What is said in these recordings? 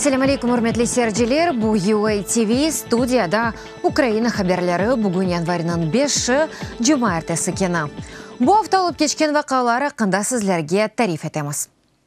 Selâm aleyküm, ürmetli seyirciler! Bu UA TV, studiyada Ukraina haberleri. Bugün yanvarnıñ beşi, cuma ertesi keni. Bu afta olıp keçken vaqalar aqqında sizlerge tarif etemiz.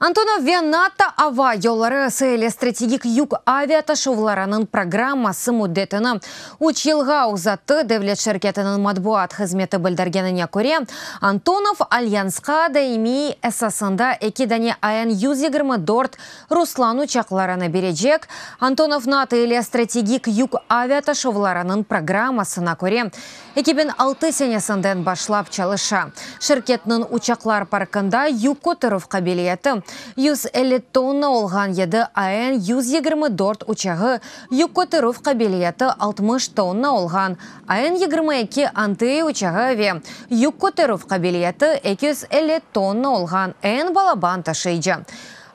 Antonov ve NATO ava yolları SL stratejik yük aviataşuvlarınıñ programması müddetini üç yılğa uzattı. Devlet şirketiniñ matbuat hızmeti bildirgenine köre, Antonov alyansqa daimiy esasında eki dane AN yüz yigirmi dört Ruslan uçaqlarını berecek. Antonov NATO ile stratejik yük aviataşuvlarınıñ programmasına köre, Eki biñ altı senesinden başlap çalışa. Şirketniñ uçaqlar parkında yük köterüv qabiliyeti yüz elli tonna olğan yedi AN yüz yigirmi dört uçağı, yük köterüv qabiliyeti altmış tonna olğan AN yigirmi eki Anteya uçağı ve yük köterüv qabiliyeti eki yüz elli tonna olğan AN Balaban taşıyıcı,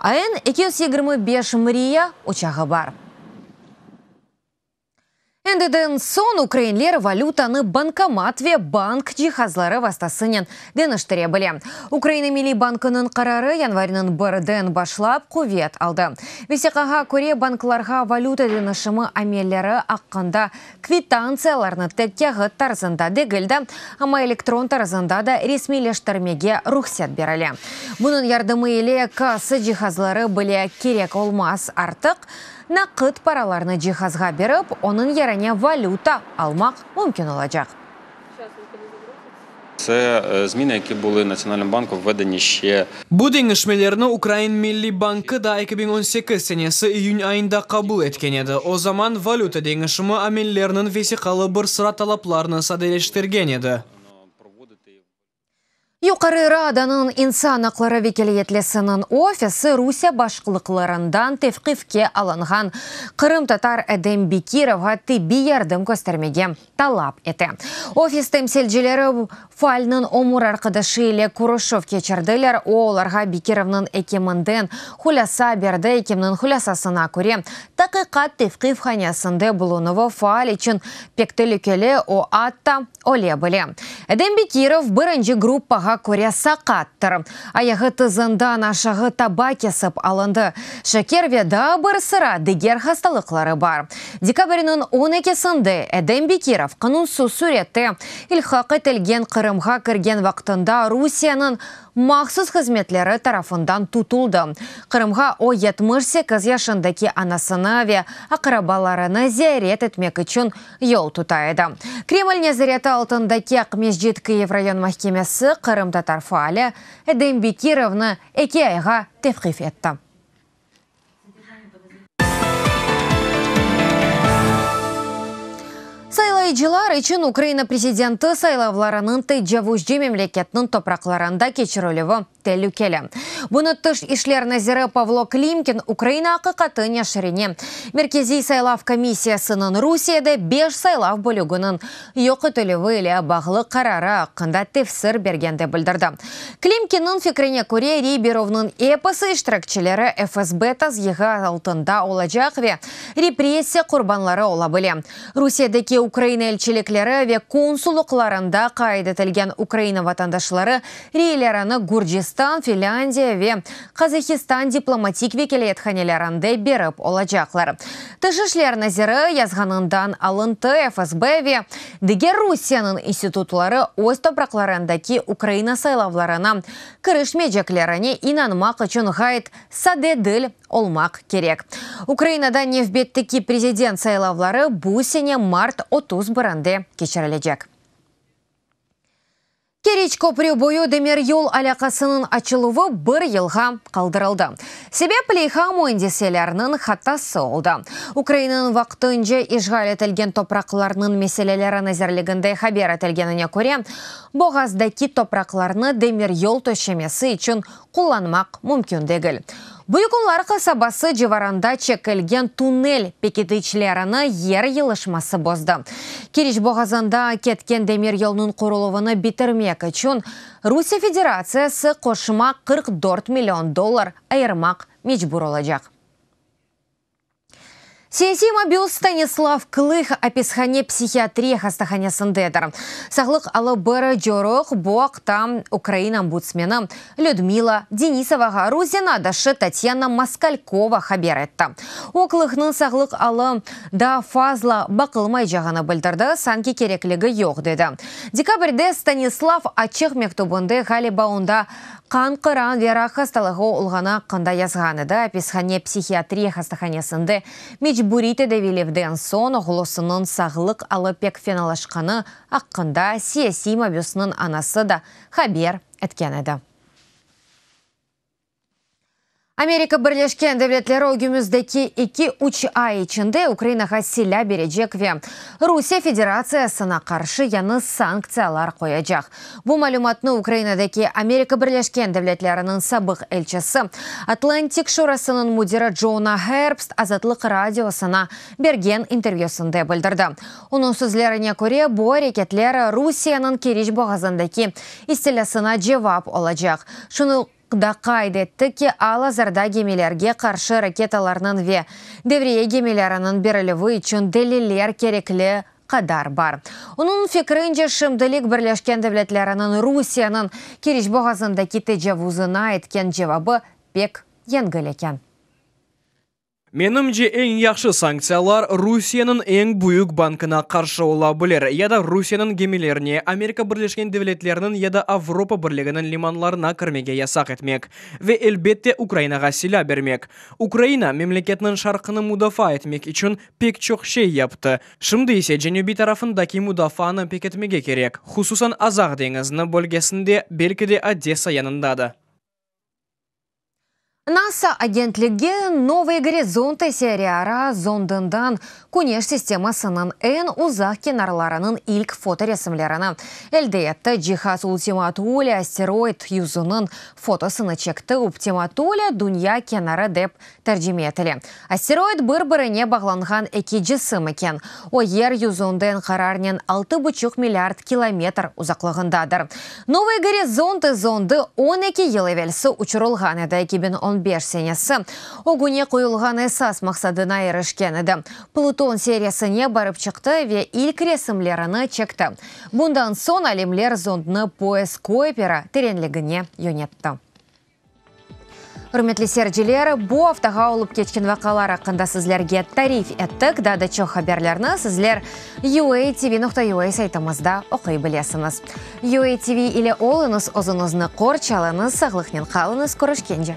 AN eki yüz yigirmi beş Mriya uçağı bar. Endiden soñ ukrainler valütanı bankomat ve bank cihazları vastasınen deñiştire bile. Ukraina Milliy bankınıñ qararı yanvarnıñ birden başlap quvet aldı. Vesiqağa köre, banklarğa valüta deñişimi amelleri aqqında kvitantsiyalarnı tek kâğıt tarzında degil de, amma elektron tarzında da resmiyleştirmege ruhset berile. Bunıñ yardımı ile kassa cihazları bile kerek olmaz artıq. Naqıt paralarnı cihazğa berip, onıñ yerine valüta almaq mümkün olacaq. Tse zmine, ki buli Natsionalnıñ banku ve de neşe. Bu deñişmelerni Ukrain Milliy bankı da eki biñ on sekiz senesi iyün ayında qabul etken edi. O zaman valüta deñişimi amelleriniñ vesiqalı bir sıra talaplarını sadeleştirgen edi. Yuqarı Radanıñ insan aqları vekiliyetlesiniñ ofisi Rusiye başqlıqlarından tevqifke alınğan qırımtatar Edem Bekirovğa tibbiy yardım köstermege talap ete. Ofis temsilcileri faalniñ ömür arqadaşı ile körüşüv keçirdiler, o, olarğa Bekirovnıñ ekiminden hulâsa berdi, ekimniñ hulâsasına köre, taqiqat tevqifhanesinde bulunuvı faal içün pek telükeli, o, atta, Öle bile. Edem Bekirov birinci gruppağa köre saqattır. Ayağı tızından aşağı taba kesip alındı. Şeker ve daa bir sıra diger hastalıqları bar. Dekabrniñ on ekisinde Edem Bekirov qanunsız sürette ilhaq etilgen Qırımğa kirgen vaqtında Rusiyeniñ mahsus hızmetleri tarafından tutuldı. Qırımğa o yetmiş sekiz yaşındaki anasını ve aqrabalarını ziyaret etmek içün yol tuta edi. Kreml nezareti altındaki Aqmescit Kıyiv rayon mahkemesi qırımtatar faali Edem Bekirovnı eki ayğa tevqif etti. Saylayıcılar içün Ukraina prezidenti saylavlarınıñ tecavuzcı memleketniñ topraqlarında keçirilüvi telükeli. Bunı Tış işler naziri Pavlo Klimkin Ukraina aqiqatı neşirine, Merkeziy saylav komissiyasınıñ Rusiyede beş saylav bölüginiñ yoq etilüvi ile bağlı qararı aqqında tefsir bergende bildirdi. Klimkinniñ fikrine köre, Riberovnıñ episi iştirakçileri FSB tazyiği altında olacaq ve repressiya qurbanları ola bile. Rusiyedeki Ukraina elçilikleri ve konsullıqlarında qayd etilgen Ukraina vatandaşları reylerini Gürcistan, Finlândiya ve Qazahistan diplomatik vekâliyethanelerinde berip olacaqlar. Tış işler naziri yazğanından alıntı, FSB ve diger Rusiyeniñ institutları öz topraqlarındaki Ukraina saylavlarına kirişmeyceklerine inanmaq içün ğayet sade dil olmaq kerek. Ukrainada nevbetteki prezident saylavları bu sene mart otuz birinde keçirilecek. Keriç köprü boyu demiryol alâqasınıñ açıluvı bir yılğa qaldırıldı. Sebep, leyha müendiseleriniñ hatası oldı. Ukrainanıñ vaqtınca işğal etilgen topraqlarnıñ meseleleri nazirliginde haber etilgenine köre, boğazdaki topraqlarnı demiryol töşemesi içün qullanmaq mümkün degil. Büyükunlar qasabası civarında çekilgen tunnel pekitiçlerini yer yılışması bozdı. Keriç boğazında ketken demir yolnıñ quruluvını bitirmek içün Rusiye Federatsiyası qoşma qırq dört million dollar ayırmaq mecbur olacaq. Siyasiy mabüs Stanislav Kılıq apishane psihiatriya hastahanesindedir. Sağlıq alıp beri coruq, bu aqta Ukraina ombudsmeni Lüdmila Denisovağa Rus zenadışı Tatyana Moskalkova haber etti. O, Kılıqnıñ sağlıq alı daa fazla baqılmaycağını bildirdi, sanki kerekligi yoq, dedi. Dekabrde Stanislav açıq mektübinde ğaliba onda Qan qıran ve rak hastalığı olğanı aqqında yazğan edi, apishane psihiatriya hastahanesinde mecburiy tedavilevden soñ oğlusınıñ sağlıq alı pek fenalaşqanı aqqında siyasiy mabüsniñ anası da haber etken edi. Amerika Birleşken Devletleri ögümüzdeki eki, üç ay içinde Ukrainağa silâ berecek ve Rusiye Federatsiyasına qarşı yañı sanktsiyalar qoyacaq. Bu malümatnı Ukrainadaki Amerika Birleşken Devletleriniñ sabıq elçisi, Atlantik Şurasınıñ müdiri Djona Herbst Azatlıq Radiosına bergen intervyüsinde bildirdi. Onıñ sözlerine köre, bu areketler Rusiyeniñ Keriç boğazındaki istilâsına cevap olacaq. Şunı. da qayd etti ki, al-azırda gemilerge qarşı raketalarnıñ ve devriye gemileriniñ berilüvi içün deliller kerekli qadar bar. Onıñ fikrince, şimdilik Birleşken Devletleriniñ Rusiyeniñ Keriç boğazındaki tecavuzına etken cevabı pek yengil eken. Menimce, eñ yahşı sanktsiyalar Rusiyeniñ eñ büyük bankına qarşı ola bilir ya da Rusiyeniñ gemilerine Amerika Birleşken Devletleriniñ ya da Avropa Birliginiñ limanlarına kirmege yasaq etmek ve, elbette, Ukrainağa silâ bermek. Ukraina memleketniñ şarqını mudafaa etmek içün pek çoq şey yaptı, şimdi ise cenübiy tarafındaki mudafaanı peketmege kerek, hususan Azaq deñizni bölgesinde, belki de Odessa yanında da. NASA agentligi Novıy Gorizonti seriara zondından Küneş sistemasınıñ eñ uzaq kenarlarınıñ ilk fotoresimlerini elde etti. Cihaz Ultima Thule asteroid yüzüniñ fotosını çekti, Uptima Thule dünya kenarı dep Tercime etile. Asteroid bir-birine bağlanğan eki cisim eken. O, Yer yüzünden qararnen altı buçuq milliard kilometr uzaqlığındadır. Novıy Gorizonti zondı on eki yıl evelsi uçurılğan edi, eki biñ on beş senesi. Ögüne qoyulğan esas maqsadına irişken edi. Pluton seriyasıne barıp çıqtı ve ilk resimlerini çekti. Bundan soñ alimler zondnı Poes Kuipera terenligine yönetti. Ürmetli seyirciler, bu aftağa olıp keçken vaqalar aqqında sizlerge tarif ettik. Daa da çoq haberlerni sizler UATV nokta UA saytımızda oquy bilesiñiz. UATV ile oluñız, özüñizni qorç alıñız, sağlıqnen qalıñız, körüşkence!